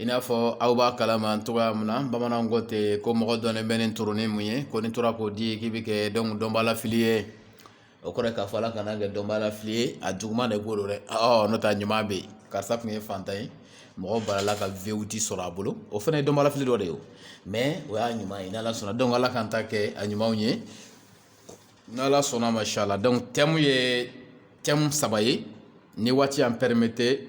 i n'a fɔ aw b'a kalama cogoya min na bamananw ko ten ko mɔgɔ dɔnnen bɛ ni tɔɔrɔ ni mun ye ko ni tora k'o di k'i bɛ kɛ dɔnbaa lafili ye o kɔrɔ k'a fɔ ala kan'an kɛ dɔnbaa lafili ye a juguman de b'o dɛ n'o tɛ ɲuman bɛ yen karisa tun ye fantan ye mɔgɔ balala ka vewiti sɔrɔ a bolo o fana ye dɔnbaa lafili dɔ de ye mɛ o y'a ɲuman ye n'ala sɔnna dɔnku ala k'an ta kɛ a ɲumanw ye n'ala sɔnn'a ma inshala dɔnku tɛmu ye tɛmu saba ye ni waati y'an pɛrɛmete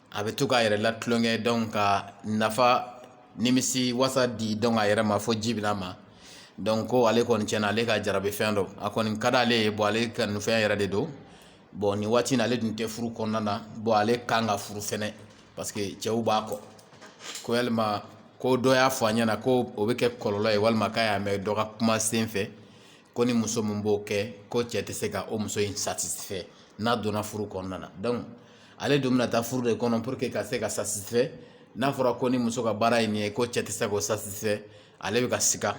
a bɛ to k'a yɛrɛ latulonkɛ dɔnku ka nafa nimisiwasa di dɔnku a yɛrɛ ma fo ji bɛ n'a ma dɔnku ko ale kɔni cɛn na ale ka jarabi fɛn don a kɔni ka di ale ye bɔn ale ka fɛn yɛrɛ de don bɔn nin waati in ale dun tɛ furu kɔnɔna na bɔn ale kan ka furu fɛnɛ parce que cɛw b'a kɔ ko yalima ko dɔ y'a fɔ a ɲɛna ko o bɛ kɛ kɔlɔlɔ ye walima k'a y'a mɛn dɔ ka kuma sen fɛ ko ni muso min b'o kɛ ko cɛ tɛ se ka o muso in satisifɛ n'a donna furu kɔnɔna na dɔnku ale dun bɛna taa furu de kɔnɔ pour que ka se ka satisifɛ n'a fɔra ko ni muso ka baara ye nin ye ko cɛ tɛ se k'o satisifɛ ale bɛ ka siga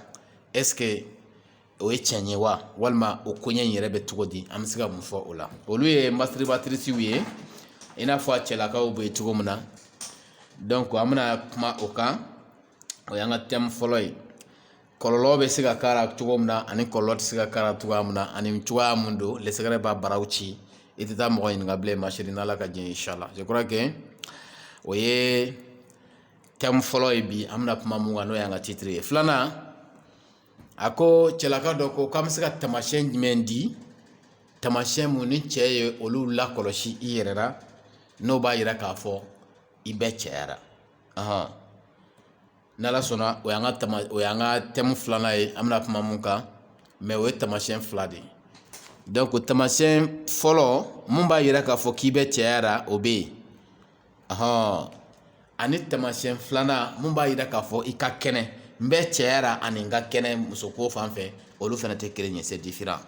ɛseke o ye tiɲɛ ye wa walima o koɲɛ in yɛrɛ bɛ cogo di an bɛ se ka mun fɔ o la olu ye masitiribatirisiw ye i n'a fɔ a cɛlakaw bɛ cogo min na dɔnku an bɛna kuma o kan o y'an ka tɛmu fɔlɔ ye kɔlɔlɔ bɛ se ka k'a la cogo min na ani kɔlɔlɔ tɛ se ka k'a la cogoya min na ani cogoya mun don lɛsɛgɛrɛ b'a baraw ci i tɛ taa mɔgɔ ɲininka bilen masini n'ala ka jɛn inshala o ye tɛmu fɔlɔ ye bi an bɛna kuma mun kan n'o y'an ka titiri ye filanan a ko cɛlaka dɔ ko k'an bɛ se ka tamasiyɛn jumɛn di tamasiyɛn min ni cɛ ye olu lakɔlɔsi i yɛrɛ la n'o b'a yira k'a fɔ i bɛ cɛya la ni ala sɔnna o y'an ka tɛmu filanan ye an bɛna kuma mun kan mɛ o ye tamasiyɛn fila de ye dɔnku tamasiyɛn fɔlɔ min b'a yira k'a fɔ k'i bɛ cɛya la o bɛ yen ɔnhɔn ani tamasiyɛn filanan min b'a yira k'a fɔ i ka kɛnɛ n bɛ cɛya la ani n ka kɛnɛ musoko fan fɛ olu fana tɛ kelen ye sɛ diferan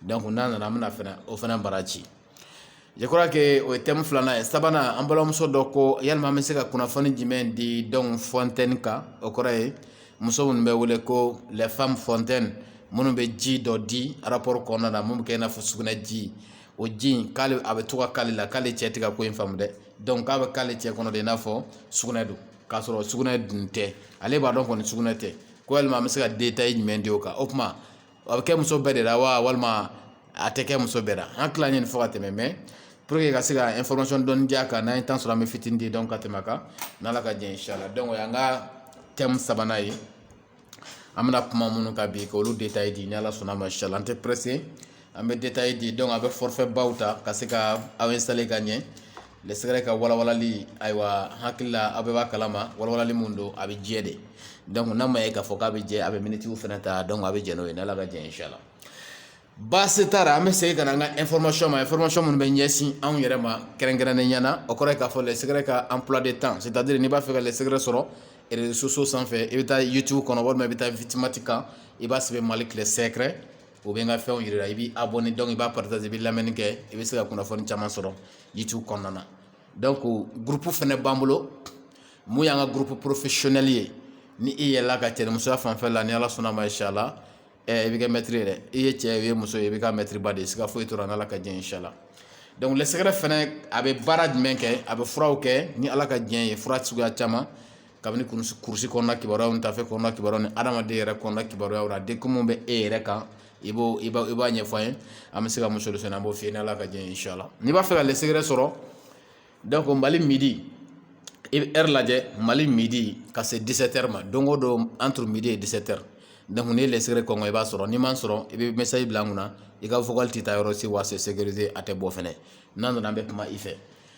n'a nana an bɛna fɛnɛ o fana bara ci je crois que o ye tɛmu filanan ye sabanan an balimamuso dɔ ko yalima an bɛ se ka kunnafoni jumɛn di dɔnku fɔntɛni kan o kɔrɔ ye muso minnu bɛ wele ko lɛfam fɔntɛni minnu bɛ ji dɔ di arapɔri kɔnɔna na min bɛ kɛ i n'a fɔ sugunɛ ji o ji in k'ale a bɛ to ka k'ale la k'ale cɛ tɛ ka ko in faamu dɛ dɔnku k'a bɛ k'ale cɛ kɔnɔ de i n'a fɔ sugunɛ don k'a sɔrɔ sugunɛ dun tɛ ale b'a dɔn kɔni sugunɛ tɛ ko yalima an bɛ se ka detaye jumɛn di o kan o tuma a bɛ kɛ muso bɛɛ de la wa walima a tɛ kɛ muso bɛɛ la an tilalen nin fɔ ka tɛmɛ mɛ puruke ka se ka ɛnfɔrimasiyɔn dɔɔnin di a kan n'an ye tan sɔrɔ an bɛ fitinin di dɔnku ka tɛmɛ a kan n'ala ka jɛn inshala o y'an ka tɛmu sabanan ye an bɛna kuma minnu kan bi ka olu detaye di ni ala sɔnn'a ma inshala an tɛ pɛrɛse an bɛ detaye di dɔnku aw bɛ fɔrifɛ baw ta ka se ka aw ɛnsitale ka ɲɛ lɛsɛgɛrɛ ka walawalali ayiwa hakili la a bɛɛ b'a kalama walawalali min don a bɛ jɛ de donc n'a ma ye k'a fɔ k'a bɛ jɛ a bɛ minitiw fana ta donc a bɛ jɛ n'o ye n'ala ka diɲɛ inshala baasi t'a la an bɛ segin ka na an ka information ma information minnu bɛ ɲɛsin anw yɛrɛ ma kɛrɛnkɛrɛnnenya la o kɔrɔ ye k'a fɔ lɛsɛgɛrɛ ka emploi de temps c'est à dire n'i b'a fɛ ka lɛsɛgɛrɛ sɔrɔ réseaux sociaux sanfɛ i bɛ taa youtube kɔnɔ walima i bɛ taa vidmate kan i b'a sɛbɛn mali tile sɛgɛrɛ o bɛ n ka fɛnw yira i bɛ abonner donc i b'a partager i bɛ lamɛnni kɛ i bɛ se ka kunnafoni caman sɔrɔ youtube kɔnɔna na donc groupe fana b'an bolo mun y'an ka groupe professionnel ye ni i yɛlɛla ka cɛmusoya fanfɛ la ni ala sɔnna ma inshala i bɛ kɛ mɛtiri ye dɛ i ye cɛ ye muso ye i bɛ kɛ mɛtiriba de ye siga foyi t'o ra n'ala ka diɲɛ inshala donc lɛsɛgɛrɛ fana a bɛ baara jumɛn kɛ a bɛ furaw kɛ ni ala ka diɲɛ ye fura suguya caman kabini kurusi kɔnɔna kibaruya ni tafe kɔnɔna kibaruya ni adamaden yɛrɛ kɔnɔna kibaruyaw la degun bɛ e yɛrɛ kan i b'o i b'a ɲɛfɔ an ye an bɛ se ka mun solution an b'o f'i ye n'ala ka diɲɛ insha Allah n'i b'a fɛ ka lɛsɛgɛrɛ sɔrɔ donc mali midi i bɛ heure lajɛ mali midi ka se 17 ma don o don entre midi et 17 heures donc n'i ye lɛsɛgɛrɛ kɔnkɔn i b'a sɔrɔ n'i m'a sɔrɔ i bɛ message bila an kunna i ka vocal tɛ taa yɔrɔ si wa c'est sécurisé a tɛ bɔ fɛnɛ n'a nana an bɛ kuma i fɛ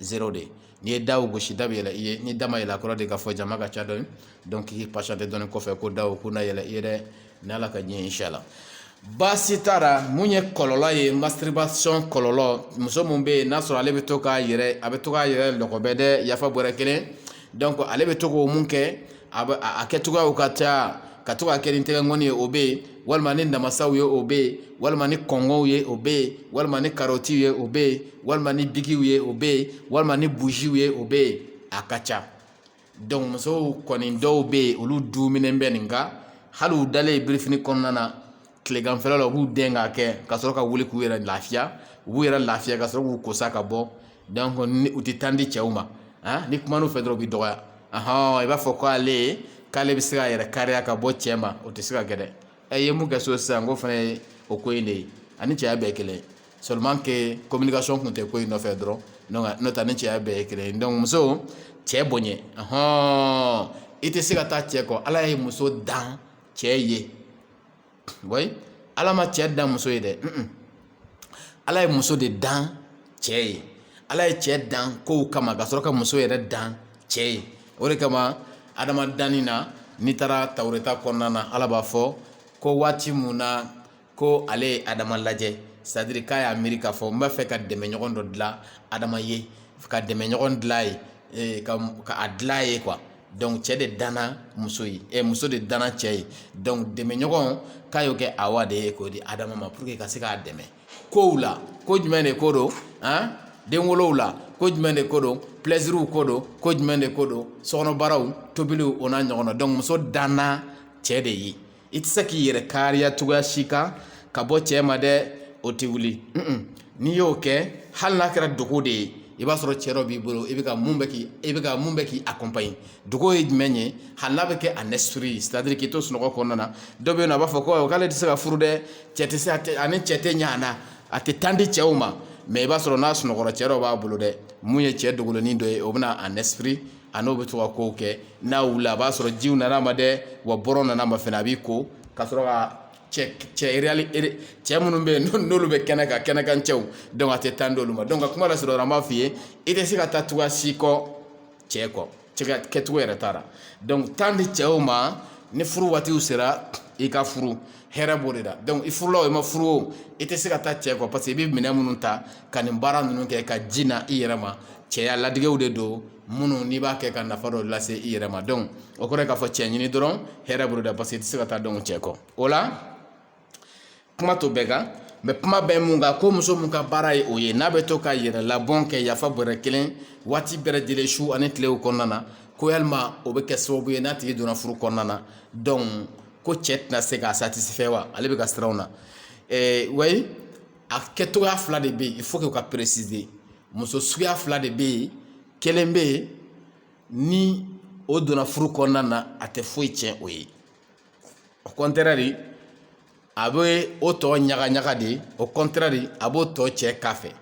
zero de n'i ye daw gosi da bɛ yɛlɛ i ye ni da ma yɛlɛ kɔrɔ de k'a fɔ jama ka ca dɔɔni donc i patienter dɔɔni kɔfɛ ko daw k'u na yɛlɛ i ye dɛ ni ala ka diɲɛ inshala baasi t'a ra mun ye kɔlɔlɔ ye masturbation kɔlɔlɔ muso min bɛ yen n'a sɔrɔ ale bɛ to k'a yɛrɛ a bɛ to k'a yɛrɛ lɔgɔbɛ dɛ yafa bɔra kelen donc ale bɛ to k'o mun kɛ a kɛcogoyaw ka ca ka to k'a kɛ ni tɛgɛkɔni ye o bɛ yen walima ni namasaw ye o bɛ yen walima ni kɔnkɔnw ye o bɛ yen walima ni karɔtiw ye o bɛ yen walima ni bigiw ye o bɛ yen walima ni bujiw ye o bɛ yen a ka ca donc musow kɔni dɔw bɛ yen olu duminen bɛ nin kan hali u dalen birifini kɔnɔna na tileganfɛla la u b'u dɛn k'a kɛ ka sɔrɔ ka wuli k'u yɛrɛ lafiya u b'u yɛrɛ lafiya ka sɔrɔ k'u kosa ka bɔ donc ni u tɛ temps di cɛw ma ah, ni kuman'u fɛ dɔrɔn u bɛ dɔgɔya ahɔn i b'a fɔ ko ale ye k'ale bɛ se k'a yɛrɛ kariya ka bɔ cɛ ma o tɛ se ka kɛ dɛ e ye mun kɛ so sisan ko fana ye o ko in de ye ani cɛya bɛɛ ye kelen ye seulement que communication tun tɛ ko in nɔfɛ dɔrɔn donc n'o tɛ ni cɛya bɛɛ ye kelen ye donc muso cɛ bonya ahɔn i tɛ se ka taa cɛ kɔ ala ye muso dan cɛ ye wayi ala ma cɛ dan muso ye dɛ ala ye muso de dan cɛ ye ala ye cɛ dan kow kama ka sɔrɔ ka muso yɛrɛ dan cɛ ye o de kama adama danni na n'i taara tawureta kɔnɔna na ala b'a fɔ ko waati mun na ko ale ye adama lajɛ c'est à dire k'a y'a miiri k'a fɔ n b'a fɛ ka dɛmɛɲɔgɔn dɔ dilan adama ye ka dɛmɛɲɔgɔn dilan ye eh, ka a dilan ye quoi donc cɛ de danna muso ye ɛ muso de danna cɛ ye donc dɛmɛɲɔgɔn k'a y'o kɛ awa de ye k'o di adama ma pour que ka se k'a dɛmɛ kow la ko jumɛn de ko don an denwolow la ko jumɛn de ko don plɛsiriw ko don ko jumɛn de ko don sokɔnɔbaaraw tobiliw o n'a ɲɔgɔn na donc muso danna cɛ de ye i tɛ se k'i yɛrɛ kariya cogoya si kan ka bɔ cɛ ma dɛ o tɛ wuli n'i y'o kɛ hali n'a kɛra dogo de ye i b'a sɔrɔ cɛ dɔ b'i bolo i bɛ ka mun bɛ k'i i bɛ ka mun bɛ k'i accompagner dogo ye jumɛn ye hali n'a bɛ kɛ en esprit c'est à dire k'i to sunɔgɔ kɔnɔna na dɔ bɛ yen nɔ a b'a fɔ ko k'ale tɛ se ka furu dɛ cɛ tɛ se a tɛ ani cɛ tɛ ɲɛ a na a tɛ tan di cɛw ma mais i b'a sɔrɔ n'a sunɔgɔra cɛ dɔ b'a bolo dɛ mun ye cɛ dogolennin dɔ ye o bɛna en esprit a n'o bɛ to ka kow kɛ n'a wulila a b'a sɔrɔ jiw nana a ma dɛ wa bɔrɔ nana ma fɛnɛ a b'i ko ka sɔrɔ ka cɛ cɛ cɛ minnu bɛ yen n'olu bɛ kɛnɛ kan kɛnɛkan cɛw donc a tɛ tan d'olu ma donc ka kuma lasurunya an b'a f'i ye i tɛ se ka taa cogoya si kɔ cɛ kɔ kɛcogo yɛrɛ t'a la donc tan di cɛw ma ni furu waatiw sera i ka furu hɛrɛ b'o de la donc i furula o i ma furu o i tɛ se ka taa cɛ kɔ parce que i bɛ minɛn minnu ta ka nin baara ninnu kɛ ka ji na i yɛrɛ ma cɛya ladegew de don minnu n'i b'a kɛ ka nafa dɔ lase i yɛrɛ ma donc o kɔrɔ ye k'a fɔ cɛ ɲini dɔrɔn hɛrɛ b'o de la parce que i tɛ se ka taa donc cɛ kɔ o la kuma t'o bɛɛ kan mais kuma bɛ mun kan ko muso mun ka baara ye o ye n'a bɛ to ka yɛrɛlabɔn kɛ yafa bɔrɛ kelen waati bɛɛ lajɛlen su ani tilew kɔnɔna na ko yalima o bɛ kɛ sababu ye n'a tigi donna furu kɔnɔna na donc ko cɛ tɛna se k'a satisfait wa ale bɛ ka siran o na oui a kɛcogoya fila de bɛ yen il faut que ka préciser muso suguya fila de bɛ yen kelen bɛ yen ni o donna furu kɔnɔna na a tɛ foyi tiɲɛ o ye au contraire a bɛ o tɔ ɲaga ɲaga de au contraire a b'o tɔ cɛ k'a fɛ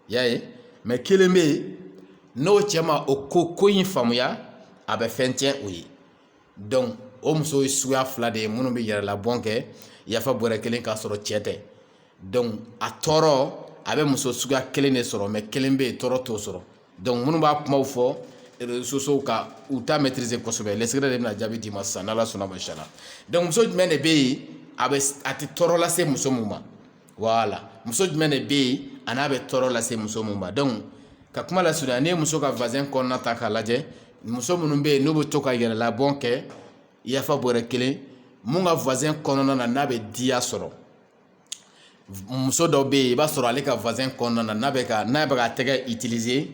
y'a ye mais kelen bɛ yen n'o cɛ ma o ko ko in faamuya a bɛ fɛn tiɲɛ o ye donc o muso ye suguya fila de ye minnu bɛ yɛrɛlabɔn kɛ yafa bɔrɛ kelen k'a sɔrɔ cɛ tɛ donc a tɔɔrɔ a bɛ muso suguya kelen de sɔrɔ mais kelen bɛ yen tɔɔrɔ t'o sɔrɔ donc minnu b'a kumaw fɔ réseaux sociaux kan u t'a maîtriser kosɛbɛ le secret de bɛna jaabi d'i ma sisan n'ala sɔnna ma inchallah donc muso jumɛn de bɛ yen a bɛ a tɛ tɔɔrɔ lase muso min ma wala muso jumɛn de bɛ yen a n'a bɛ tɔɔrɔ lase muso mun ma donc ka kuma lasurunya n'i ye muso ka vagin kɔnɔna ta k'a lajɛ muso minnu bɛ yen n'u bɛ to ka yɛrɛlabɔn kɛ yafa bɔrɛ kelen mun ka vagin kɔnɔna na n'a bɛ diya sɔrɔ muso dɔ bɛ yen i b'a sɔrɔ ale ka vagin kɔnɔna na n'a bɛ ka n'a bɛ ka tɛgɛ utiliser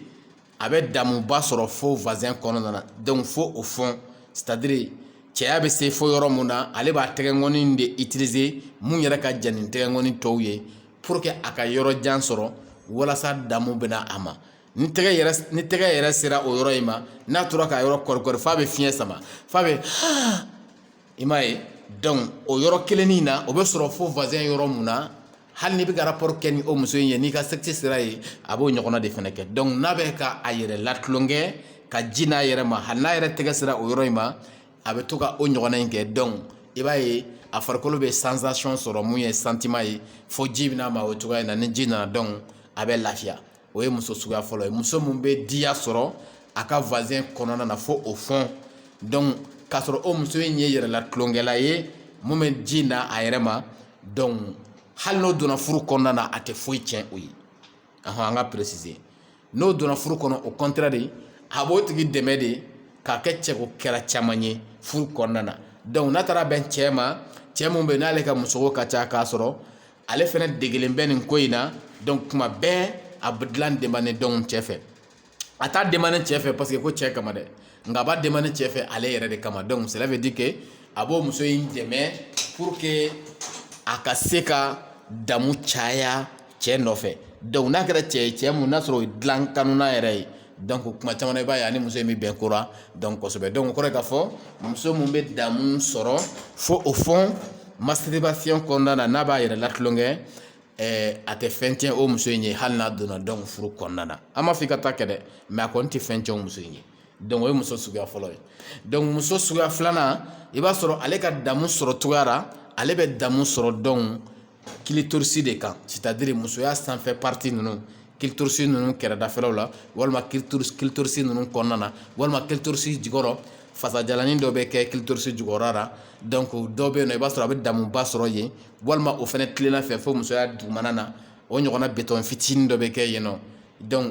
a bɛ damuba sɔrɔ fo vagin kɔnɔna na donc fo au fond c'est-à-dire cɛya bɛ se fo yɔrɔ min na ale b'a tɛgɛkɔni de utiliser mun yɛrɛ ka jan ni tɛgɛkɔni tɔw ye pour que a ka yɔrɔ jan sɔrɔ walasa damu bɛna a ma ni tɛgɛ yɛrɛ sera o yɔrɔ in ma n'a tora ka yɔrɔ kɔrikɔri f'a bɛ fiɲɛ sama f'a bɛ i m'a ye donc o yɔrɔ kelen na o bɛ sɔrɔ fo vagin yɔrɔ min na hali n'i bɛ ka rapport kɛ ni o muso in ye n'i ka sexe sera yen a b'o ɲɔgɔnna de fana kɛ donc n'a bɛ ka a yɛrɛ latulonkɛ ka ji n'a yɛrɛ ma hali n'a yɛrɛ tɛgɛ sera o yɔrɔ in ma a bɛ to ka o ɲɔgɔnna in kɛ donc i b'a ye a farikolo bɛ sensation sɔrɔ mun ye sentiment ye fo ji bɛ na a ma o cogoya in na ni ji nana donc a bɛ lafiya o ye muso suguya fɔlɔ ye muso min bɛ diya sɔrɔ a ka vagin kɔnɔna na fo au fond donc k'a sɔrɔ o muso in ye yɛrɛlatulonkɛla ye mun bɛ ji na a yɛrɛ ma donc hali n'o donna furu kɔnɔna na a tɛ foyi tiɲɛ o ye ahɔn an ka préciser n'o donna furu kɔnɔ au contraire de a b'o tigi dɛmɛ de k'a kɛ cɛko kɛra caman ye furu kɔnɔna na donc n'a taara bɛn cɛ ma cɛ min bɛ yen n'ale ka musoko ka ca k'a sɔrɔ ale fana degelen bɛ nin ko in na donc kuma bɛɛ a bɛ dilan demande donc cɛ fɛ a t'a demande cɛ fɛ parce que ko cɛ kama dɛ nka a b'a demande cɛ fɛ ale yɛrɛ de kama donc cela veut dire que a b'o muso in dɛmɛ pour que a ka se ka damu caya cɛ nɔfɛ donc n'a kɛra cɛ ye cɛ mun n'a sɔrɔ o ye dilan kanuna yɛrɛ ye donc kuma caman na i b'a ye a ni muso in bɛ bɛn ko ra donc kosɛbɛ donc o kɔrɔ ye k'a fɔ muso min bɛ damu sɔrɔ fo au fond masturbation kɔnɔna na n'a b'a yɛrɛ latulonkɛ a tɛ fɛn tiɲɛ o muso in ye hali n'a donna donc furu kɔnɔna na an m'a fɔ i ka taa kɛ dɛ mais a kɔni tɛ fɛn tiɲɛ o muso in ye donc o ye muso suguya fɔlɔ ye donc muso suguya filanan i b'a sɔrɔ ale ka damu sɔrɔ cogoya ra ale bɛ damu sɔrɔ donc clitoris de kan c'est-à-dire musoya sanfɛ partie ninnu clitoris ninnu kɛrɛdafɛlaw la walima clitoris ninnu kɔnɔna na walima clitoris jukɔrɔ fasajalani dɔ bɛ kɛ clitoris jukɔrɔ la donc dɔw bɛ yen nɔ i b'a sɔrɔ a bɛ damuba sɔrɔ yen walima o fana tilenna fɛ fo musoya dugumana na o ɲɔgɔnna bitɔn fitinin dɔ bɛ kɛ yen nɔ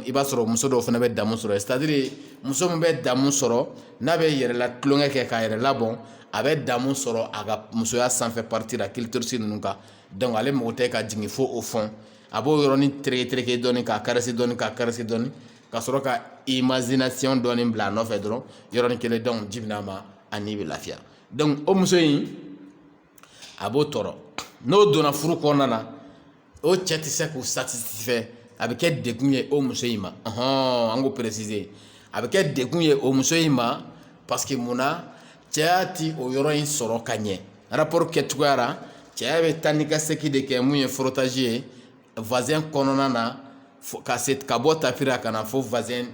i b'a sɔrɔ muso dɔw fana bɛ damu sɔrɔ c'est-à-dire muso min bɛ damu sɔrɔ n'a bɛ yɛrɛ latulonkɛ kɛ k'a yɛrɛ labɔn a bɛ damu sɔrɔ a ka musoya sanfɛ partie la clitoris ninnu kan donc ale mako tɛ ka jigin fo au fond a b'o yɔrɔnin tereke dɔɔnin k'a caresser dɔɔnin k'a caresser dɔɔnin ka sɔrɔ ka imagination dɔɔnin bila a nɔfɛ dɔrɔn yɔrɔnin kelen donc ji bɛ na a ma a ni bɛ lafiya donc o muso in a b'o tɔɔrɔ n'o donna furu kɔnɔna na o cɛ tɛ se k'o satisifɛ a bɛ kɛ dekun ye o muso in ma ɔhɔn an k'o peresize a bɛ kɛ dekun ye o muso in ma paseke mun na cɛya ti o yɔrɔ in sɔrɔ ka ɲɛ araporo kɛcogoya la cɛya bɛ taa ni ka segin de kɛ mun ye forotazi ye vazɛn kɔnɔna na ka bɔ tapira ka na fo vazɛn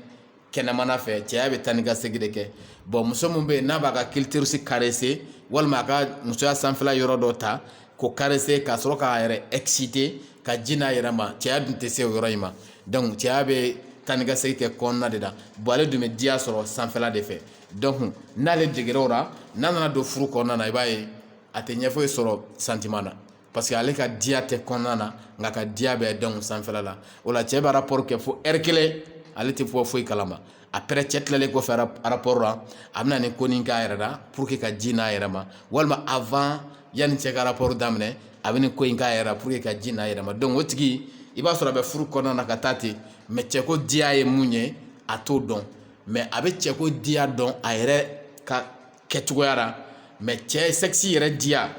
kɛnɛmana fɛ cɛya bɛ taa ni ka segin de kɛ bɔn muso min bɛ yen n'a b'a ka kilitorisi karese walima a ka musoya sanfɛla yɔrɔ dɔ ta k'o karese ka sɔrɔ k'a yɛrɛ ɛkisite ka ji n'a yɛrɛ ma cɛya dun tɛ se o yɔrɔ in ma dɔnku cɛya bɛ taa ni ka segin kɛ kɔnɔna de la bɔn ale dun bɛ diya sɔrɔ sanfɛla de fɛ dɔnku n'ale degera o la n'a nana don furu kɔnɔna na i b'a ye a tɛ ɲɛ foyi sɔrɔ santiman na parce que ale ka diya tɛ kɔnɔna na nk'a ka diya bɛ de sanfɛla la o la cɛ bɛ rapport kɛ fo ɛri kelen ale tɛ bɔ foyi kalama après cɛ tilalen kɔfɛ rapport la a bɛna nin ko nin k'a yɛrɛ la pour que ka ji n'a yɛrɛ ma walima avant yanni cɛ ka rapport daminɛ a bɛ nin ko in k'a yɛrɛ la pour que ka ji n'a yɛrɛ ma donc o tigi i b'a sɔrɔ a bɛ furu kɔnɔna na ka taa ten mɛ cɛko diya ye mun ye a t'o dɔn mɛ a bɛ cɛko diya dɔn a yɛrɛ ka kɛcogoya la mɛ cɛ sɛkisi yɛrɛ diya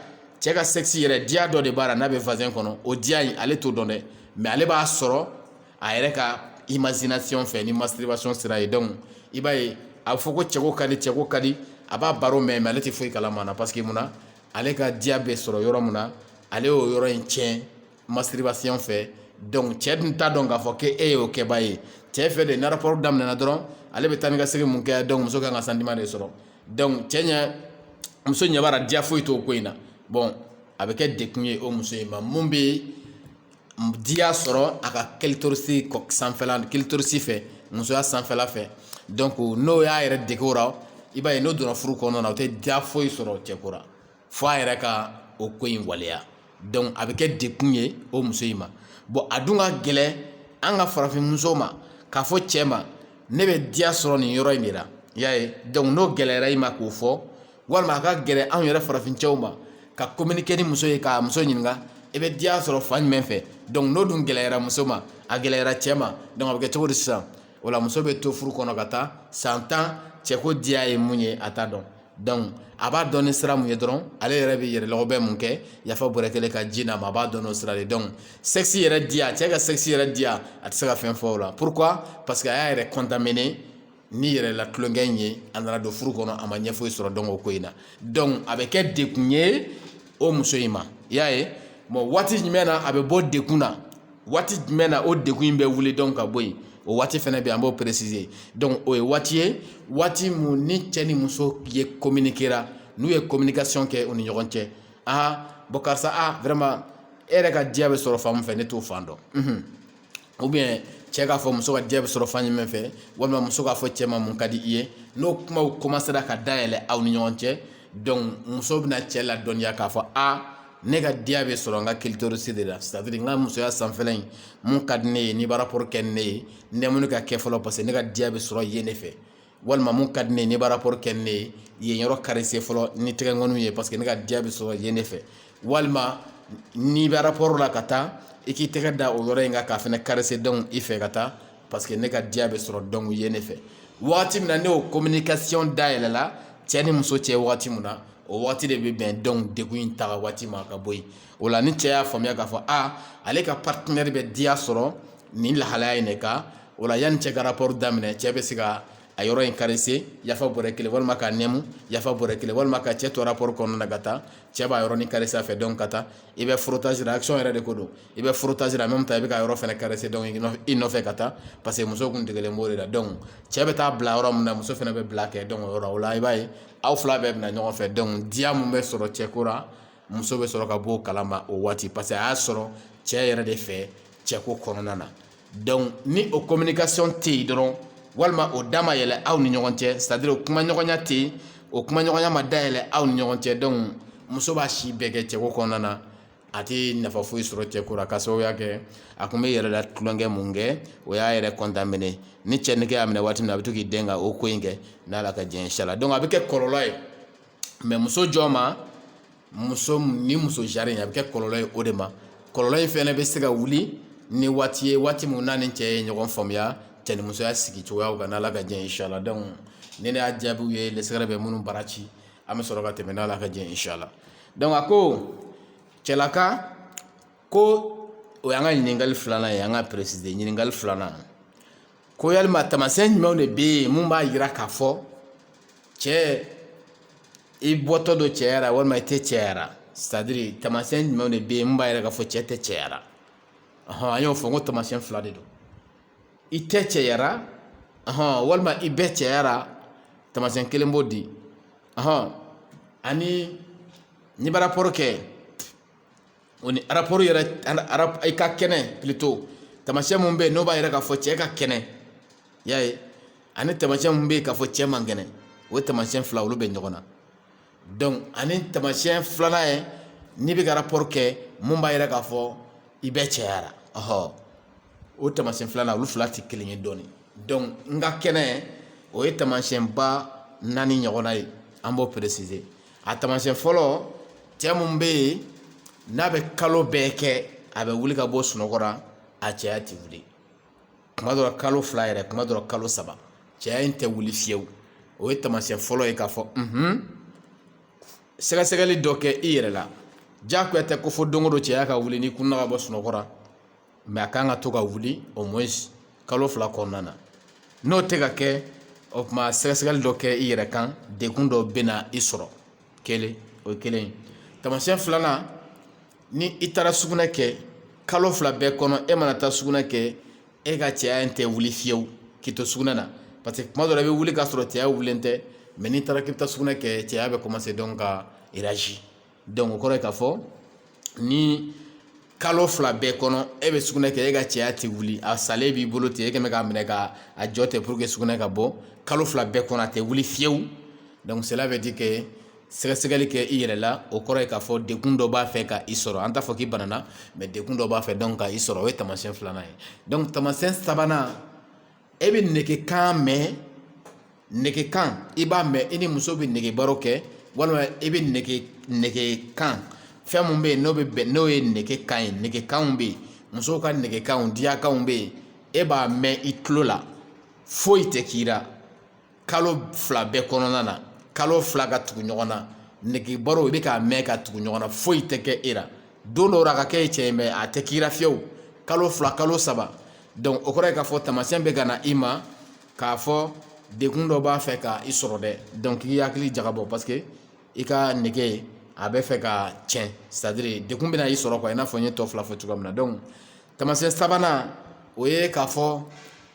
cɛ ka sɛkisi yɛrɛ diya dɔ de b'a la n'a bɛ vazɛn kɔnɔ o diya in ale t'o dɔn dɛ mɛ ale b'a sɔrɔ a yɛrɛ ka imazinasiyɔn fɛ ni masituribasiyɔn sira ye dɔnku i b'a ye a bɛ fɔ ko cɛko ka di cɛko ka di a b'a baro mɛn mɛ ale tɛ foyi kalama na paseke mun na ale ka diya bɛ sɔrɔ yɔrɔ min na ale y'o yɔrɔ in tiɲɛ masituribasiyɔn fɛ dɔnku cɛ dun t'a dɔn k'a fɔ k'e y'o kɛbaa ye cɛ fɛ de ni araporo daminɛna dɔrɔn ale bɛ taa ni ka segin mun kɛ dɔnku muso kan ka santiman de sɔrɔ dɔnku cɛ ɲɛ muso ɲɛ b'a la diya foyi t'o ko in na bɔn a bɛ kɛ dekun ye o muso in ma mun bɛ yen diya sɔrɔ a ka kilitorisi sanfɛla kilitorisi fɛ musoya sanfɛla fɛ dɔnku n'o y'a yɛrɛ dege o la i b'a ye n'o donna furu kɔnɔna na o tɛ diya foyi sɔrɔ cɛko ra fo a yɛrɛ ka o ko in waleya dɔnku a bɛ kɛ dekun ye o muso in ma bɔn a dun ka gɛlɛn an ka farafin muso ma k'a fɔ cɛ ma ne bɛ diya sɔrɔ nin yɔrɔ in de la i y'a ye dɔnku n'o gɛlɛyara i ma k'o fɔ walima a ka gɛlɛn anw yɛrɛ farafin cɛw ma ka kominike ni muso ye ka muso ɲininka i bɛ diya sɔrɔ fan jumɛn fɛ dɔnku n'o dun gɛlɛyara muso ma a gɛlɛyara cɛ ma dɔnku a bɛ kɛ cogo di sisan o la muso bɛ to furu kɔnɔ ka taa san tan cɛko diya ye mun ye a t'a dɔn a b'a dɔn ni sira mun ye dɔrɔn ale yɛrɛ bɛ yɛrɛ lɔgɔbɛ mun kɛ yafa puru k'ale ka ji n'a ma a b'a dɔn n'o sira de dɔnku sɛkisi yɛrɛ diya cɛ ka sɛkisi yɛrɛ diya a tɛ se ka fɛn fɔ o la purukuwa paseke a y'a yɛrɛ kɔntamine ni yɛrɛ la tulonkɛ in ye a nana don furu kɔnɔ a ma ɲɛ foyi sɔrɔ dɔnku o ko in na dɔnku a bɛ kɛ dekun ye o muso in ma i y'a ye bɔn waati jumɛn na a bɛ bɔ dekun na waati jumɛn na o degun in bɛ wuli donc ka bɔ yen o waati fɛnɛ bɛ yen an b'o préciser donc o ye waati ye waati min ni cɛ ni muso ye communiquera n'u ye communication kɛ u ni ɲɔgɔn cɛ aa bon karisa a vraiment e yɛrɛ ka diya bɛ sɔrɔ fan min fɛ ne t'o fan dɔn ou bien cɛ k'a fɔ muso ka diya bɛ sɔrɔ fan jumɛn fɛ walima muso k'a fɔ cɛ ma mun ka di i ye n'o kumaw commencera ka dayɛlɛ aw ni ɲɔgɔn cɛ muso bɛna cɛ ladɔnniya k'a fɔ aa ne ka diya bɛ sɔrɔ n ka clitoris de la c'est à dire n ka musoya sanfɛla in mun ka di ne ye n'i b'a rapport kɛ ne ye nɛmuni ka kɛ fɔlɔ parce que ne ka diya bɛ sɔrɔ yen de fɛ walima min ka di ne ye n'i b'a rapport kɛ ne ye yen yɔrɔ caresser fɔlɔ ni tɛgɛkɔniw ye parce que ne ka diya bɛ sɔrɔ yen de fɛ walima n'i bɛ rapport la ka taa i k'i tɛgɛ da o yɔrɔ in kan k'a fɛnɛ caresser donc i fɛ ka taa parce que ne ka diya bɛ sɔrɔ donc yen de fɛ waati min na n'o communication dayɛlɛla cɛ ni muso cɛ waati min na o waati de bɛ bɛn donc degun in taga waati ma ka bɔ yen o la ni cɛ y'a faamuya k'a fɔ a ale ka partenaire bɛ diya sɔrɔ nin lahalaya in de kan o la yanni cɛ ka rapport daminɛ cɛ bɛ se ka a yɔrɔ in caresser yafa bɔrɛ kelen walima k'a nɛmu yafa bɔrɛ kelen walima ka cɛ to rapport kɔnɔna na ka taa cɛ b'a yɔrɔnin caresser a fɛ donc ka taa i bɛ frottage la action yɛrɛ de ko don i bɛ frottage la en même temps i bɛ k'a yɔrɔ fɛnɛ caresser donc i nɔfɛ ka taa parce que muso kun degelen b'o de la donc cɛ bɛ taa bila yɔrɔ min na muso fɛnɛ bɛ bila kɛ donc o yɔrɔ o la i b'a ye aw fila bɛɛ bɛ na ɲɔgɔn fɛ donc diya min bɛ sɔrɔ cɛko ra muso bɛ sɔrɔ ka bɔ o kalama o waati parce que a y'a sɔrɔ cɛ yɛrɛ de fɛ cɛko kɔnɔna na donc ni o communication tɛ yen dɔrɔn walima o da ma yɛlɛ aw ni ɲɔgɔn cɛ c'est à dire o kuma ɲɔgɔnya tɛ yen o kuma ɲɔgɔnya ma dayɛlɛ aw ni ɲɔgɔn cɛ donc muso b'a si bɛɛ kɛ cɛko kɔnɔna na a tɛ nafa foyi sɔrɔ cɛko la k'a sababuya kɛ a kun bɛ yɛrɛ la tulonkɛ mun kɛ o y'a yɛrɛ contaminer ni cɛ nege y'a minɛ waati min na a bɛ to k'i den ka o ko in kɛ n'ala ka diɲɛ inchallah donc a bɛ kɛ kɔlɔlɔ ye mais muso jɔn ma muso ni muso jari a bɛ kɛ kɔlɔlɔ ye o de ma kɔlɔlɔ in fɛnɛ bɛ se ka wuli ni waati ye waati min n'a ni cɛ ye ɲɔgɔn faamuya cɛ ni musoya sigi cogoyaw kan n'ala ka diɲɛ inchallah donc ninnu y'a jaabiw ye lesɛgɛ bɛ minnu bara ci an bɛ sɔrɔ ka tɛmɛ n'ala ka diɲɛ inchallah donc a ko cɛlaka ko o y'an ka ɲininkali filanan ye an ka préciser ɲininkali filanan ko yalima taamasiyɛn jumɛnw de bɛ yen mun b'a jira k'a fɔ cɛ i bɔtɔ don cɛya la walima i tɛ cɛya la c'est à dire taamasiyɛn jumɛnw de bɛ yen mun b'a jira k'a fɔ cɛ tɛ cɛya la ɔhɔn an y'o fɔ n ko taamasiyɛn fila de don i tɛ cɛya ra ɔhɔn walima i bɛ cɛya ra taamasiyɛn kelen b'o di hɔn ani n'i bɛ arapɔri kɛ o ni arapɔri yɛrɛ arap i ka kɛnɛ pilito tamasiyɛn mun bɛ yen n'o b'a yira k'a fɔ cɛ ka kɛnɛ y'a ye ani tamasiyɛn mun bɛ yen k'a fɔ cɛ man kɛnɛ o ye tamasiyɛn fila olu bɛ ɲɔgɔn na donc ani tamasiyɛn filanan ye n'i bɛ ka arapɔri kɛ mun b'a yira k'a fɔ i bɛ cɛya la ɔhɔ o tamasiyɛn filanan olu fila tɛ kelen ye dɔɔnin dɔnku n ka kɛnɛ o ye taamasiyɛnba naani ɲɔgɔnna ye an b'o peresize a taamasiyɛn fɔlɔ cɛ min bɛ yen n'a bɛ kalo bɛɛ kɛ a bɛ wuli ka bɔ sunɔgɔ la a cɛya tɛ wuli kuma dɔ la kalo fila yɛrɛ kuma dɔ la kalo saba cɛya in tɛ wuli fiyewu o ye taamasiyɛn fɔlɔ ye k'a fɔ unhun sɛgɛsɛgɛli dɔ kɛ i yɛrɛ la diyagoya tɛ ko fo don o don cɛya ka wuli n'i kunna ka bɔ sunɔgɔ la mɛ a ka kan ka to ka wuli au moins kalo fila kɔnɔna na n'o tɛ ka kɛ o tuma sɛgɛsɛgɛli dɔ kɛ i yɛrɛ kan dekun dɔ bɛna i sɔrɔ kelen o kelen tamasiyɛn filanan ni i taara sugunɛ kɛ kalo fila bɛɛ kɔnɔ e mana taa sugunɛ kɛ e ka cɛya in tɛ wuli fiyewu k'i to sugunɛ na parce que kuma dɔ la i bɛ wuli k'a sɔrɔ cɛya wulilen tɛ mɛ n'i taara k'i bɛ taa sugunɛ kɛ cɛya bɛ kɔmanse donc ka réagir dɔnku o kɔrɔ ye k'a fɔ ni kalo fila bɛɛ kɔnɔ e bɛ sugunɛ kɛ e ka cɛya tɛ wuli a salen b'i bolo ten e kɛmɛ k'a minɛ ka a jɔ ten pour que sugunɛ ka bɔ kalo fila bɛɛ kɔnɔ a tɛ wuli fiyewu dɔnku cela veut dire que sɛgɛsɛgɛli kɛ i yɛrɛ la o kɔrɔ ye k'a fɔ dekun dɔ b'a fɛ ka i sɔrɔ an t'a fɔ k'i banana mɛ dekun dɔ b'a fɛ donc ka i sɔrɔ o ye tamasiyɛn filanan ye dɔnku tamasiyɛn sabanan e bɛ nege kan mɛn nege kan i b'a mɛn i ni muso bɛ nege baro kɛ walima i bɛ nege nege kan fɛn mun bɛ yen n'o bɛ bɛn n'o ye nege kan ye nege kanw bɛ yen musow ka nege kanw diyakanw bɛ yen e b'a mɛn i tulo la foyi tɛ k'i la kalo fila bɛɛ kɔnɔna na kalo fila ka tugu ɲɔgɔn na nege baro i bɛ k'a mɛn ka tugu ɲɔgɔn na foyi tɛ kɛ e la don dɔw la a ka kɛ cɛ ye mɛ a tɛ k'i la fiyewu kalo fila kalo saba o kɔrɔ ye k'a fɔ tamasiyɛn bɛ ka na i ma k'a fɔ dekun dɔ b'a fɛ ka i sɔrɔ dɛ donc i hakili jagabɔ paseke i ka nege a bɛ fɛ ka tiɲɛ c'est à dire dekun bɛna i sɔrɔ i n'a fɔ n ye tɔ fila fɔ cogoya min na taamasiyɛn sabanan o ye k'a fɔ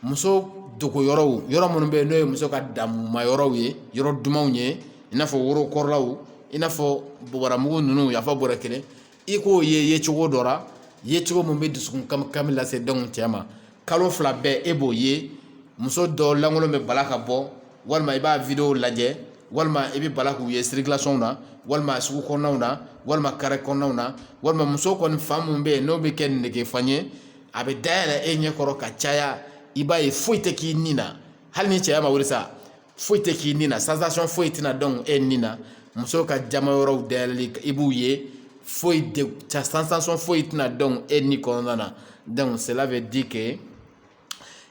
muso dogo yɔrɔw yɔrɔ minnu bɛ yen n'o ye muso ka damuma yɔrɔw ye yɔrɔ dumanw ye i n'a fɔ worokɔrɔlaw i n'a fɔ bobaramugu ninnu yafa bɔra kelen i k'o ye yecogo dɔ la yecogo min bɛ dusukun kami kami lase donc cɛ ma kalo fila bɛɛ e b'o ye muso dɔ lankolon bɛ bala ka bɔ walima i b'a video lajɛ walima i bɛ bala k'u ye circulation na walima sugu kɔnɔnaw na walima carré kɔnɔnaw na walima muso kɔni fan mun bɛ yen n'o bɛ kɛ negefan ye a bɛ dayɛlɛ e ɲɛ kɔrɔ ka caya i b'a ye foyi tɛ k'i ni na hali n'i cɛya ma wuli sa foyi tɛ k'i ni na sensation foyi tɛna don e ni na muso ka jama yɔrɔw dayɛlɛli i b'u ye foyi de sensation foyi tɛna don e ni kɔnɔna na donc cela veut dire que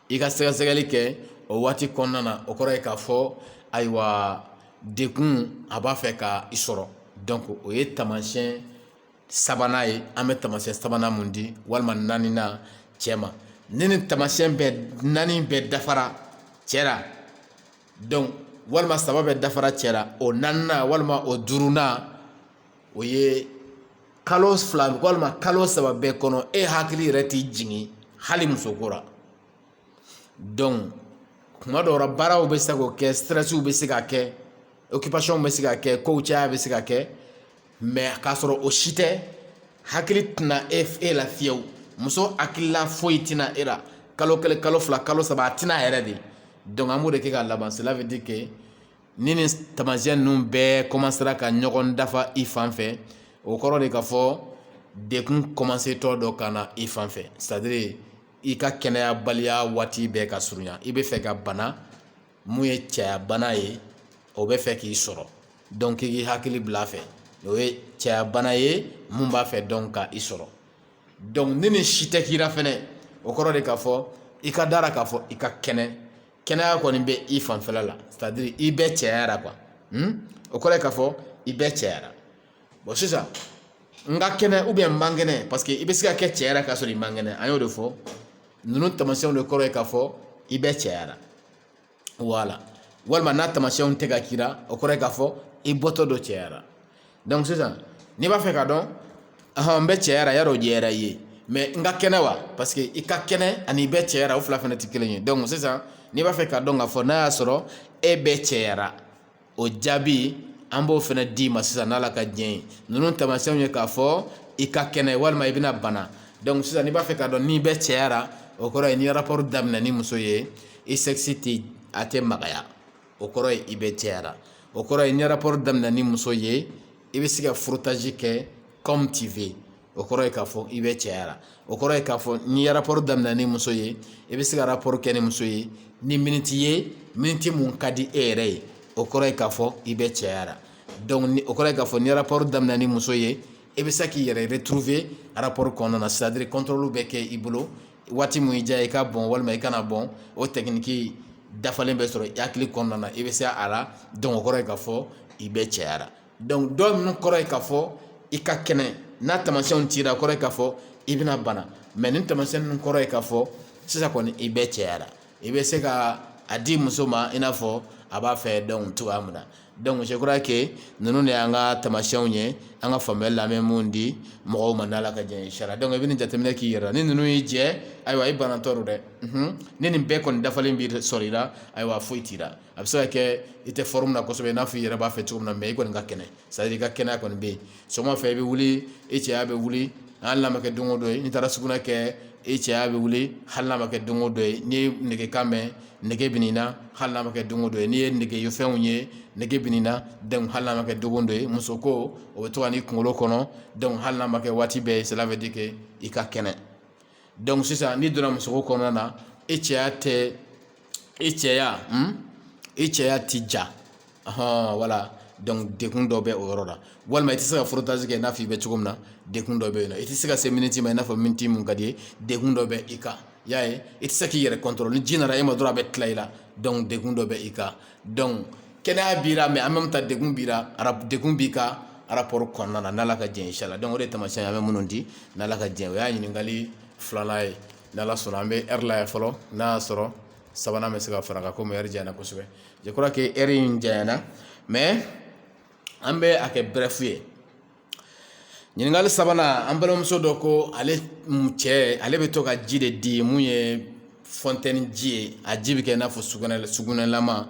i ka sɛgɛsɛgɛli kɛ o waati kɔnɔna na o kɔrɔ ye k'a fɔ ayiwa dekun a b'a fɛ ka i sɔrɔ donc o ye taamasiyɛn sabanan ye an bɛ taamasiyɛn sabanan mun di walima naaninan cɛ ma ni nin taamasiyɛn bɛɛ naani bɛɛ dafara cɛ la donc walima saba bɛɛ dafara cɛ la o naaninan walima o duurunan o ye kalo fila walima kalo saba bɛɛ kɔnɔ e hakili yɛrɛ tɛ jigin hali musoko la donc kuma dɔw la baaraw bɛ se ka kɛ stressiw bɛ se ka kɛ occupation bɛ se ka kɛ kow caya bɛ se ka kɛ mais k'a sɔrɔ o si tɛ hakili tɛna e e la fiyewu muso hakilila foyi tɛna e la kalo kelen kalo fila kalo saba a tɛna yɛrɛ de donc an b'o de kɛ ka laban cela veut dire que ni nin tamasiyɛn ninnu bɛɛ kɔmansera ka ɲɔgɔn dafa i fan fɛ o kɔrɔ de k'a fɔ dekun kɔmansetɔ don ka na i fan fɛ c'est à dire i ka kɛnɛyabaliya waati bɛ ka surunya i bɛ fɛ ka bana mun ye cɛya bana ye o bɛ fɛ k'i sɔrɔ donc i k'i hakili bila a fɛ o ye cɛya bana ye mun b'a fɛ donc ka i sɔrɔ donc ni nin si tɛ k'i la fɛnɛ o kɔrɔ de k'a fɔ i ka dara k'a fɔ i ka kɛnɛ kɛnɛya kɔni bɛ i fanfɛla la c'est à dire i bɛ cɛyara quoi o kɔrɔ ye k'a fɔ i bɛ cɛyara bon sisan n ka kɛnɛ ou bien n man kɛnɛ parce que i bɛ se ka kɛ cɛyara k'a sɔrɔ i man kɛnɛ an y'o de fɔ ninnu tamasiyɛnw de kɔrɔ ye k'a fɔ i bɛ cɛyara voilà walima n'a tamasiyɛnw tɛ ka k'i la o kɔrɔ ye k'a fɔ i bɔtɔ don cɛyara sisan n'i b'a fɛ k'a dɔn n bɛ cɛyara y'a dɔn o jɛyara i ye mais n ka kɛnɛ wa parce que i ka kɛnɛ ani i bɛ cɛyara o fila fana tɛ kelen ye donc sisan n'i b'a fɛ k'a dɔn k'a fɔ n'a y'a sɔrɔ e bɛ cɛyara o jaabi an b'o fana d'i ma sisan n'ala ka diɲɛ ye ninnu tamasiyɛnw ye k'a fɔ i ka kɛnɛ walima i bɛna bana donc sisan n'i b'a fɛ k'a dɔn n'i bɛ cɛyara o kɔrɔ ye n'i rapport daminɛ ni muso ye i sexe a tɛ magaya o kɔrɔ ye i bɛ cɛyara o kɔrɔ ye n'i rapport daminɛ ni muso ye i bɛ se ka frottage kɛ comme tu veux o kɔrɔ ye k'a fɔ i bɛ cɛyara o kɔrɔ ye k'a fɔ n'i rapport daminɛ ni muso ye i bɛ se ka rapport kɛ ni muso ye ni miniti ye miniti mun ka di e yɛrɛ ye o kɔrɔ ye k'a fɔ i bɛ cɛyara donc o kɔrɔ ye k'a fɔ n'i rapport daminɛ ni muso ye i bɛ se k'i yɛrɛ retrouver rapport kɔnɔna na c'est à dire contrôle bɛ kɛ i bolo waati min i diya i ka bɔn walima i kana bɔn o technique dafalen bɛ sɔrɔ i hakili kɔnɔna na i bɛ se a la donc o kɔrɔ ye k'a fɔ i bɛ cɛya ra donc dɔ ninnu kɔrɔ ye k'a fɔ i ka kɛnɛ n'a tamasiyɛnw t'i la o kɔrɔ ye k'a fɔ i bɛna bana mais nin tamasiyɛn ninnu kɔrɔ ye k'a fɔ sisan kɔni i bɛ cɛya ra i bɛ se ka a di muso ma i n'a fɔ a b'a fɛ donc cogoya min na donc je crois que ninnu de y'an ka tamasiyɛnw ye an ka faamuyali la an bɛ mun di mɔgɔw ma n'ala ka jɛn ye inchallah donc i bɛ nin jateminɛ k'i yɛrɛ la ni ninnu y'i jɛ ayiwa i banatɔ don dɛ ni nin bɛɛ kɔni dafalen bɛ sɔrɔ i la ayiwa foyi t'i la a bɛ se ka kɛ i tɛ forme na kosɛbɛ i n'a fɔ i yɛrɛ b'a fɛ cogo min na mais i kɔni ka kɛnɛ c'est à dire i ka kɛnɛya kɔni bɛ yen sɔgɔma fɛ i bɛ wuli i cɛya bɛ wuli hali n'a ma kɛ don o don ye n'i taara sugunɛ kɛ i cɛya bɛ wuli hali n'a ma kɛ don o don ye n'i ye negekan mɛn nege bɛ n'i na hali n'a ma kɛ don o don ye n'i ye nege fɛnw ye nege bɛ n'i na donc hali n'a ma kɛ don o don ye muso ko o bɛ to ka n'i kunkolo kɔnɔ donc hali n'a ma kɛ waati bɛɛ ye cela veut dire que i ka kɛnɛ sisan n'i donna musoko kɔnɔna na i cɛya tɛ i cɛya i cɛya ti ja voilà donc degun dɔ bɛ o yɔrɔ la walima i tɛ se ka frottage kɛ i n'a fɔ i bɛ cogo min na degun dɔ bɛ yen nɔ i tɛ se ka se miniti ma i n'a fɔ miniti mun ka d'i ye degun dɔ bɛ i kan i y'a ye i tɛ se k'i yɛrɛ contrôle ni ji nana e ma dɔrɔn a bɛ tila i la donc degun dɔ bɛ i kan kɛnɛya b'i la mais en même temps degun b'i la degun b'i kan rapport kɔnɔna na n'ala ka jɛn inchallah donc o de tamasiyɛn an bɛ minnu di n'ala ka jɛn o y'a ɲininkali filanan ye n'ala sɔnna an bɛ heure lajɛ fɔlɔ n'a y'a sɔrɔ sabanan bɛ se ka fara kan komi heure janyana kosɛbɛ je crois que heure in janyana mais an bɛ a kɛ bref ye ɲininkali sabanan an balimamuso dɔ ko ale cɛ ale bɛ to ka ji de di mun ye fontaine ji ye a ji bɛ kɛ i n'a fɔ sugunɛ sugunɛlama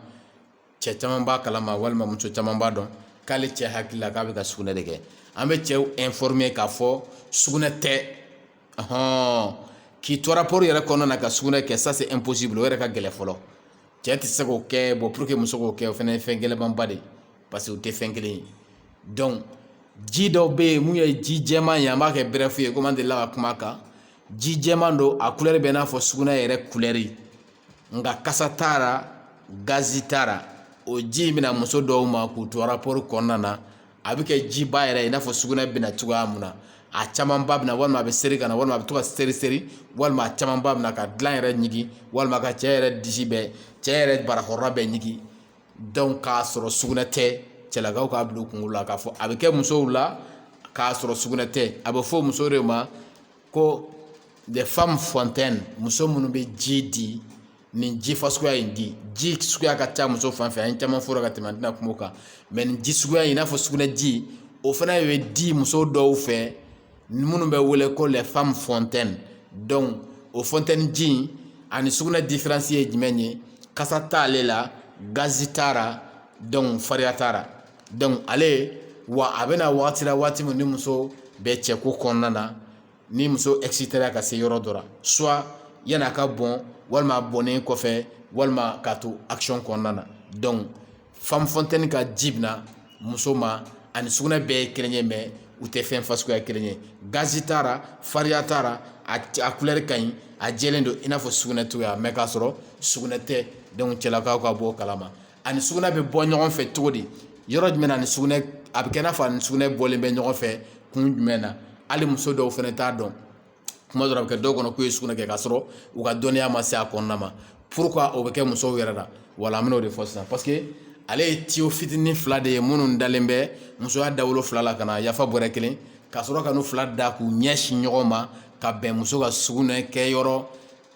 cɛ caman b'a kalama walima muso caman b'a dɔn k'ale cɛ hakili la k'a bɛ ka sugunɛ de kɛ an bɛ cɛw informer k'a fɔ sugunɛ tɛ ɔhɔn k'i to rapport yɛrɛ kɔnɔna na ka sugunɛ kɛ ça c'est impossible o yɛrɛ ka gɛlɛn fɔlɔ cɛ tɛ se k'o kɛ bon pour que muso k'o kɛ o fana ye fɛn gɛlɛnmanba de ye parce que u tɛ fɛn kelen ye donc ji dɔw bɛ yen mun ye ji jɛman ye an b'a kɛ bref ye komi an delila ka kuma a kan ji jɛman don a couleur bɛ i n'a fɔ sugunɛ yɛrɛ couleur nka kasa t'a la gazi t'a la o ji in bɛ na muso dɔw ma k'u to rapport kɔnɔna na a bɛ kɛ jiba yɛrɛ i n'a fɔ sugunɛ bɛ na cogoya mun na a camanba bɛ na walima a bɛ seri ka na walima a bɛ to ka seri seri walima a camanba bɛ na ka dilan yɛrɛ ɲigin walima ka cɛ yɛrɛ disi bɛɛ cɛ yɛrɛ barakɔrɔla bɛɛ ɲigin donc k'a sɔrɔ sugunɛ tɛ cɛlakaw k'a bila u kunkolo la k'a fɔ a bɛ kɛ musow la k'a sɔrɔ sugunɛ tɛ a bɛ fɔ muso de ma ko des femmes fontaines muso minnu bɛ ji di nin ji fasuguya in di ji suguya ka ca muso fan fɛ a caman fɔra ka tɛmɛ an tɛna kuma o kan mais nin ji suguya in i n'a fɔ sugunɛ ji o fana bɛ di muso dɔw fɛ minnu bɛ wele ko les femmes fontaines donc o fontaine ji ani sugunɛ difiransi ye jumɛn ye kasa t' ale la gazi t'a la donc fariya t'a la donc ale wa a bɛna wagati la waati min ni muso bɛ cɛko kɔnɔna na ni muso excitéra ka se yɔrɔ dɔ la soit yan'a ka bɔn walima bɔnnen kɔfɛ walima k'a to action kɔnɔna na donc femme fontaine ka ji bɛna muso ma ani sugunɛ bɛɛ ye kelen ye mais u tɛ fɛn fasuguya kelen ye gazi t'a la fariya t'a la a kulɛri ka ɲi a jɛlen don i n'a fɔ sugunɛ cogoya mais k'a sɔrɔ sugunɛ tɛ donc cɛlakaw ka bɔ o kalama ani sugunɛ bɛ bɔ ɲɔgɔn fɛ cogo di yɔrɔ jumɛn na ni sugunɛ a bɛ kɛ n'a fɔ ani sugunɛ bɔlen bɛ ɲɔgɔn fɛ kun jumɛn na hali muso dɔw fana t'a dɔn kuma dɔ la a bɛ kɛ dɔw kɔnɔ k'u ye sugunɛ kɛ k'a sɔrɔ u ka dɔnniya ma se a kɔnɔna ma pourquoi o bɛ kɛ musow yɛrɛ la voilà an bɛn'o de fɔ sisan paseke ale ye tiyo fitinin fila de ye minnu dalen bɛ musoya dawolo fila la ka na yafa bɔrɛ kelen ka sɔrɔ ka n'u fila da k'u ɲɛsin ɲɔgɔn ma ka bɛn muso ka sugunɛ kɛ yɔrɔ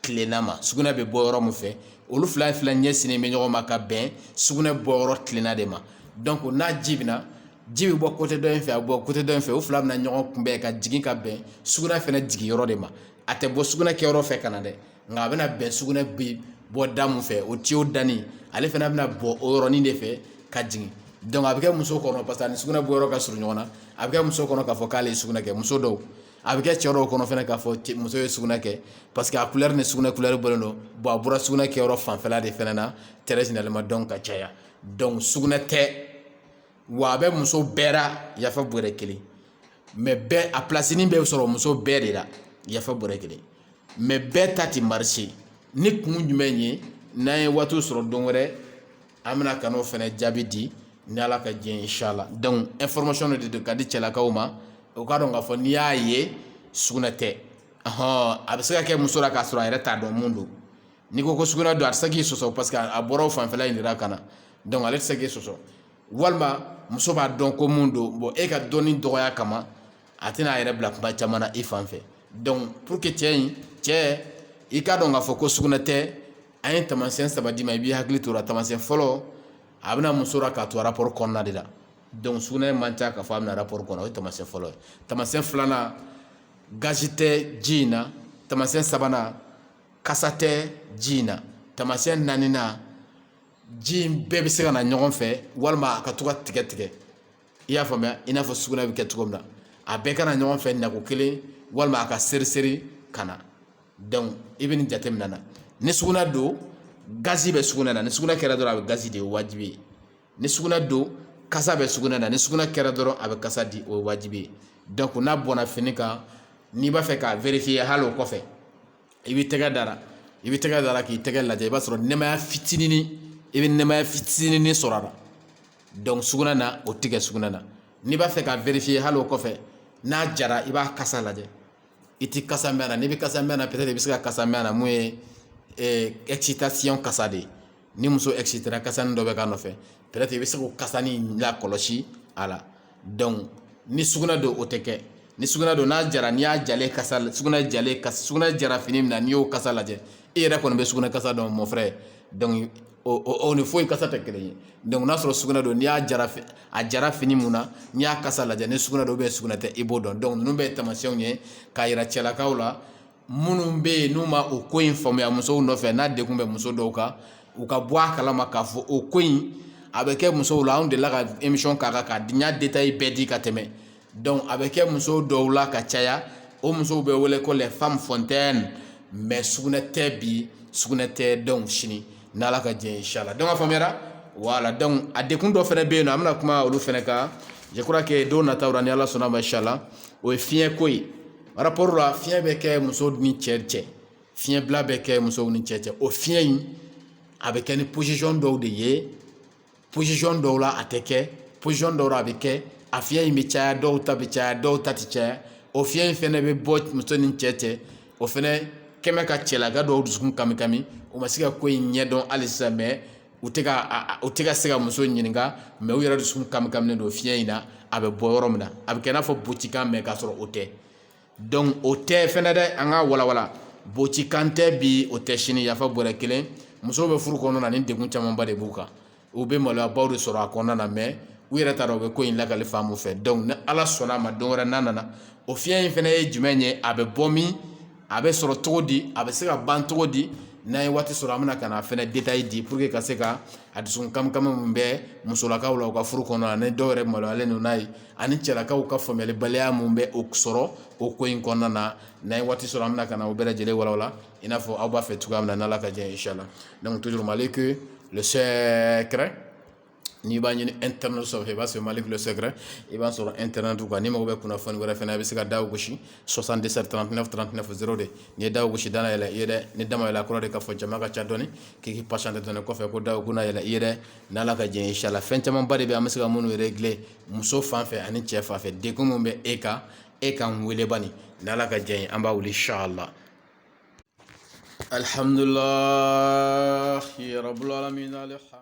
tilenna ma sugunɛ bɛ bɔ yɔrɔ min fɛ olu fila fila ɲɛsinnen bɛ ɲɔgɔn ma ka bɛn sugunɛ bɔ yɔrɔ tilenna de ma n'a ji bɛ na ji bɛ bɔ kɔtɛ dɔ in fɛ a bɛ bɔ kɔtɛ dɔ in fɛ o fila bɛna ɲɔgɔn kunbɛn ka jigin ka bɛn sugunɛ fana jigin yɔrɔ de ma a tɛ bɔ sugunɛ kɛ yɔrɔ fɛ ka na dɛ nka a bɛna bɛn sugunɛ bɛ bɔ da min fɛ o tiyo danin ale fana bɛna bɔ o yɔrɔnin de fɛ ka jigin a bɛ kɛ muso kɔnɔ parce que ani sugunɛ bɔ yɔrɔ ka surun ɲɔgɔn na a bɛ kɛ muso kɔnɔ k'a fɔ k'ale ye sugunɛ kɛ muso dɔw a bɛ kɛ cɛ dɔw kɔnɔ fana k'a fɔ muso ye sugunɛ kɛ parce que a couleur ni sugunɛ couleur bɔlen don bon a bɔra sugunɛ kɛyɔrɔ fanfɛla de fana na très généralement donc ka caya donc sugunɛ tɛ wa a bɛ muso bɛɛ la yafa bɔrɛ kelen mais bɛɛ a plasinin bɛ sɔrɔ muso bɛɛ de la yafa bɔrɛ kelen mais bɛɛ ta tɛ marché ni kun jumɛn ye n'an ye waatiw sɔrɔ don wɛrɛ an bɛna ka n'o fana jaabi di ni ala ka diɲɛ inshallah dɔnku information de don ka di cɛlakaw ma u k'a dɔn k'a fɔ n'i y'a ye sugunɛ tɛ hɔn a bɛ se ka kɛ muso la k'a sɔrɔ a yɛrɛ t'a dɔn mun don n'i ko ko sugunɛ don a tɛ se k'i sɔsɔ parce que a bɔra o fanfɛla in de la ka na dɔnku ale tɛ se k'i sɔsɔ walima muso b'a dɔn ko mun don bon e ka dɔnni dɔgɔya kama a tɛna a yɛrɛ bila kuma caman na i fan fɛ donc pour que cɛ i k'a dɔn k'a fɔ ko sugunɛ tɛ an ye taamasiyɛn saba d'i ma i b'i hakili to o la taamasiyɛn fɔlɔ a bɛna muso la k'a to arapɔri kɔnɔna de la sugunɛ man ca k'a fɔ a bɛna arapɔri kɔnɔ o ye taamasiyɛn fɔlɔ ye taamasiyɛn filanan gazi tɛ ji in na taamasiyɛn sabanan kasa tɛ ji in na taamasiyɛn naaninan ji in bɛɛ bɛ se ka na ɲɔgɔn fɛ walima a ka to ka tigɛ tigɛ i y'a faamuya i n'a fɔ sugunɛ bɛ kɛ cogo min na a bɛɛ ka na ɲɔgɔn fɛ nako kelen walima a ka seri seri ka na i bɛ nin jateminɛ na ni sugunɛ don gazi bɛ sugunɛ na ni sugunɛ kɛra dɔrɔn a bɛ gazi di o ye wajibi ye ni sugunɛ don kasa bɛ sugunɛ na ni sugunɛ kɛra dɔrɔn a bɛ kasa di o ye wajibi ye n'a bɔnna fini kan n'i b'a fɛ k'a vérifier hali o kɔfɛ i b'i tɛgɛ da a la i b'i tɛgɛ da a la k'i tɛgɛ lajɛ i b'a sɔrɔ nɛmaya fitinin i bɛ nɛmaya fitinin sɔrɔ a la donc sugunɛ na o tɛ kɛ sugunɛ na n'i b'a fɛ k'a vérifier hali o kɔfɛ n'a jara i b'a kasa lajɛ i tɛ kasa mɛn a la n'i bɛ kasa mɛn a la peut-être i bɛ se ka kasa mɛn a la mun ye excitation kasa de ye ni muso excitera kasanin dɔ bɛ k'a nɔfɛ peut-être i bɛ se k'o kasanin lakɔlɔsi a la donc ni sugunɛ don o tɛ kɛ ni sugunɛ don n'a jara n'i y'a jalen kasa sugunɛ jalen kasa sugunɛ jara fini min na n'i y'o kasa lajɛ e yɛrɛ kɔni bɛ sugunɛ kasa dɔn mon frère donc o ni foyi kasa tɛ kelen ye donc n'a sɔrɔ sugunɛ don n'i y'a jara a jara fini min na n'i y'a kasa lajɛ ni sugunɛ don sugunɛ tɛ i b'o dɔn donc ninnu bɛ taamasiyɛnw ye k'a yira cɛlakaw la minnu bɛ yen n'u ma o ko in faamuya musow nɔfɛ n'a degun bɛ muso dɔw kan u ka bɔ a kalama k'a fɔ o ko in a bɛ kɛ musow la anw delila ka émission k'a kan k'a diɲɛ détail bɛɛ di ka tɛmɛ donc a bɛ kɛ musow dɔw la ka caya o musow bɛ wele ko les femmes fontaines mais sugunɛ tɛ bi sugunɛ tɛ donc sini n'ala ka jɛ inshala donc a faamuyara voilà donc a degun dɔ fɛnɛ bɛ yen nɔ an bɛna kuma olu fɛnɛ kan je crois que don nataw la ni ala sɔnna ma inshala o ye fiɲɛ ko ye rapport la fiɲɛ bɛ kɛ muso ni cɛ cɛ fiɲɛ bila bɛ kɛ musow ni cɛ cɛ o fiɲɛ in a bɛ kɛ ni position dɔw de ye position dɔw la a tɛ kɛ position dɔw la a bɛ kɛ a fiɲɛ in bɛ caya dɔw ta bɛ caya dɔw ta tɛ caya o fiɲɛ in fɛnɛ bɛ bɔ muso ni cɛ cɛ o fɛnɛ kɛmɛ ka cɛlaka dɔw dusukun kami kami o ma se ka ko in ɲɛdɔn hali sisan mais u tɛ ka u tɛ ka se ka muso ɲininka mais u yɛrɛ dusukun kami kaminen don fiɲɛ in na a bɛ bɔ yɔrɔ min na a bɛ kɛ i n'a fɔ bocikan mais k'a sɔrɔ o tɛ donc o tɛ fɛnɛ dɛ an k'a walawala bocikan tɛ bi o tɛ sini yafa bɔrɛ kelen musow bɛ furu kɔnɔna na ni degun camanba de b'u kan u bɛ maloyabaw de sɔrɔ a kɔnɔna na mais u yɛrɛ t'a dɔn u bɛ ko in lakali fan min fɛ ni ala sɔnna a ma don wɛrɛ n'a nana o fiɲɛ in fɛnɛ ye jumɛn ye a bɛ bɔ min a bɛ sɔrɔ cogo di a bɛ se ka ban cogo di n'an ye waati sɔrɔ an bɛna ka na fɛnɛ détail di pour que ka se ka a dusukun kami kami min bɛ musolakaw la u ka furu kɔnɔna na ni dɔw yɛrɛ maloyalen don n'a ye ani cɛlakaw ka faamuyalibaliya min bɛ o sɔrɔ o ko in kɔnɔna na n'an ye waati sɔrɔ an bɛna ka na o bɛɛ lajɛlen walawala i n'a fɔ aw b'a fɛ cogoya min na n'ala ka jɛ inshala donc toujours malik le secret n'i b'a ɲini internet sanfɛ i b'a sɔrɔ Malik le secret i b'a sɔrɔ internet kan n'i mago bɛ kunnafoni wɛrɛ fana i bɛ se ka da gosi soixante-dix-sept trente-neuf trente-neuf zéro deux n'i ye da gosi da na yɛlɛ i ye dɛ ni da ma yɛlɛ kɔrɔ de k'a fɔ jama ka ca dɔɔni k'i patienter dɔɔni kɔfɛ ko da kunna yɛlɛ i ye dɛ n'Ala ka diɲɛ inchallah fɛn camanba de bɛ an bɛ se ka minnu régler muso fan fɛ ani cɛ fan fɛ degun minnu bɛ e kan e ka weele bani n'Ala ka diɲɛ an b'a wuli inchallah alihamdulila